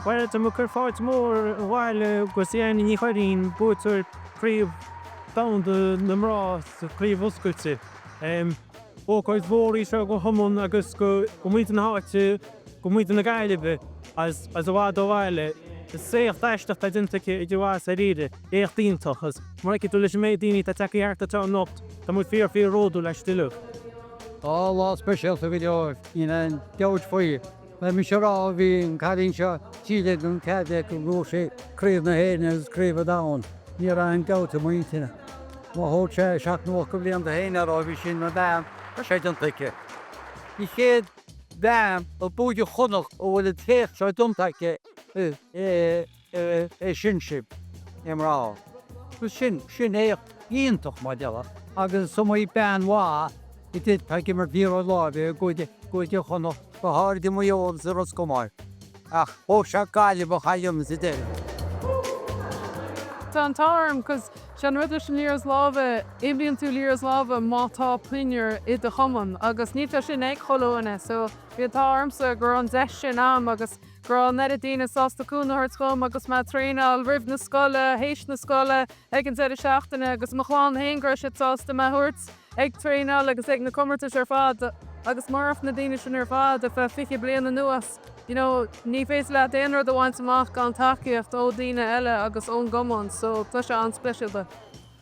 Bhuel tá muid ag cur fáilte mhór abhaile do Ciana Ní Churraoin buaiteoir Chraobh Domhanda na Mná sa Chraobh Oscailte. Ócáid mhór í seo don chumann agus do mhuintir na háite, do mhuintir na Gaillimhe is i bhfad ó bhaile. Is éacht aisteach atá déanta aici idir mhaith is dáiríre. Éacht iontach agus mar a fheicfidh tú leis an méid daoine atá tagtha thart anseo anocht, tá muid fíor fíor bhródúil aisti uilig. Lá speisialta go deo é. Níl aon dabht faoi, bhí mise a rá, bhí an cailín seo díreach gan cead aici go mbuafadh sí craobh na hÉireann agus craobh an domhain. Ní raibh aon dabht i m'intinne. Má thóg sé seacht nó ocht bhliain do Shéan a rá, bhí sin mar bean, tá sé déanta aici. An chéad bhean ó Chúige Chonnacht a bhfuil an t-éacht seo déanta aici i. i i sinsir na mná agus sin sin éacht iontach mar déarfá agus is iomaí bean mhaith a d'fhéadfadh ag imirt liathróid láimhe i gCúige gCúige Chonnacht go háirid i Maigh Eo agus i Ros Comáin ach thóg sé Gaillimh é a dhéanamh sa deireadh. Tá an t-ádh orm 'cause sé an rud leis an liathróid láimhe imríonn tú liathróid láimhe má tá pinniúr i do chumann agus níl sé sin ag chuile dhuine so bhí an t-ádh ormsa go raibh an deis sin a'm agus go raibh an oiread daoine sásta cúnamh a thabhairt dhom agus mé a' traenáil roimh na scoile, théis na scoile, ag an deireadh seachtaine agus mo chlann féin go raibh siad sásta mé a thabhairt ag traenáil agus ag na comórtais ar fad agus murach na daoine sin ar fad ar feadh fiche bliain anuas you know ní féidir leat aon rud a bhaint amach gan tacaíocht ó dhaoine eile agus ón gcumann so tá sé an-speisialta.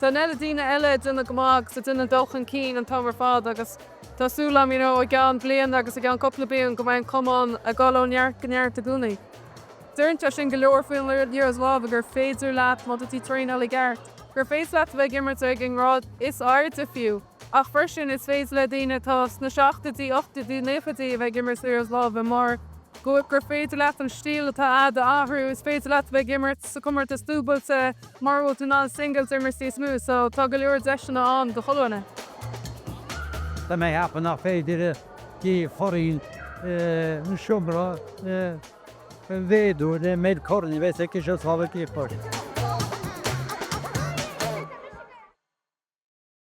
Tá an oiread daoine eile ag déanamh go maith agus ag déanamh dul chun cinn an t-am ar fad agus tá súil agam, you know, i gceann bliana agus i gceann cúpla bliain go mbeidh an cumann ag dul ó neart go neart i gcónaí. Deireann sé sin go leor faoin liathróid láimhe gur féidir leat, má tá tú traenáil i gceart, gur féidir leat a bheith ag imirt ag an ngrád is airde fiú. ach freisin is féidir le daoine atá sna seachtóidí, ochtóidí, nóchaidí a bheith ag imirt liathróid láimhe mar go gur féidir leat an stíl atá a'd a athrú, is féidir leat a bheith ag imirt sa comórtas dúbailte mara bhfuil tú in ann singles a imirt níos mó so tá go leor deiseanna ann do chuile dhuine. Tá mé a cheapadh nach fada go dtiocfaidh orainn an seomra a mhéadú le méid corn a bheas aici sábháilte a chur.